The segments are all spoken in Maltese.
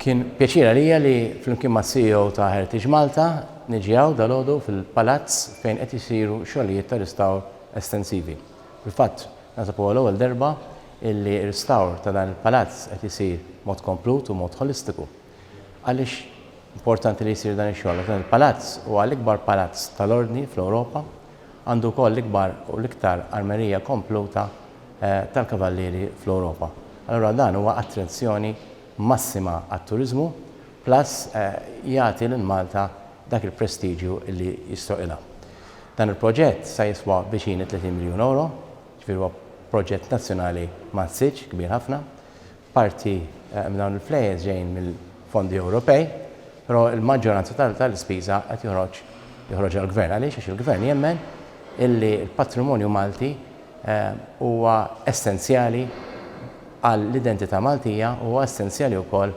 Kien pjaċir għalija li flimkien mac-CEO ta' Heritage Malta niġi hawn dalgħodu fil-Palazz fejn qed isiru xogħlijiet ta' ristawr estensivi. Fil-fatt, naħseb huwa l-ewwel darba illi ristawr ta' dan il-Palazz qed isir b'mod komplut u b'mod ħolistiku. Għaliex importanti li jsir dan ix-xogħol? Għax dan il-Palazz huwa l-ikbar Palazz tal-Ordni fl-Ewropa, għandu wkoll l-ikbar u l-iktar armerija kompluta tal-Kavallieri fl-Ewropa. Allura dan huwa attrazzjoni massima għat-turiżmu plus jagħti lil Malta dak il-prestiġju li jistħoqilha. Dan il-proġett sa jiswa viċin it-30 miljun ewro, ġifieri huwa proġett nazzjonali massiġġ, kbir ħafna, Parti minn dawn il-flejjes ġejjin mill-fondi Ewropej, però l-maġġoranza tal-ispiża qed joħroġ joħroġha l-Gvern. Għaliex? Għax il-Gvern jemmen illi l-patrimonju Malti huwa essenzjali għall-identità Maltija u huwa essenzjali wkoll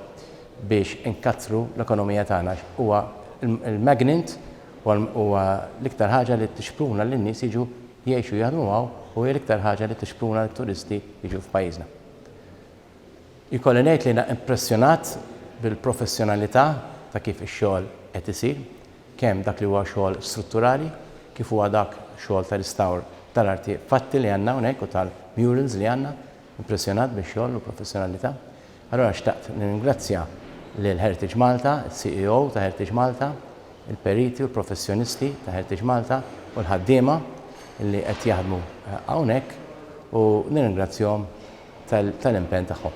biex inkattru l-ekonomija tagħna għax huwa l-magnet, huwa l-iktar ħaġa li tixpruna lin-nies jiġu jgħixu u jaħdmu hawn u hija l-iktar ħaġa li tixpruna lit-turisti jiġu f'pajjiżna. Ikolli ngħid li jiena impressjonat bil-professjonalità ta' kif ix-xogħol qed isir, kemm dak li huwa xogħol strutturali kif huwa dak xogħol ta' ristawr tal-arti fatti li għandna hawnhekk u tal-murals li għandna. Impressjonat bix-xogħol u l-professjonalità. Allura xtaqt nirringrazzja lil Heritage Malta, is-CEO ta' Heritage Malta, il-periti u l-professjonisti ta' Heritage Malta u l-ħaddiema li qed jaħdmu hawnhekk u nirringrazzjahom tal-impenn tagħhom.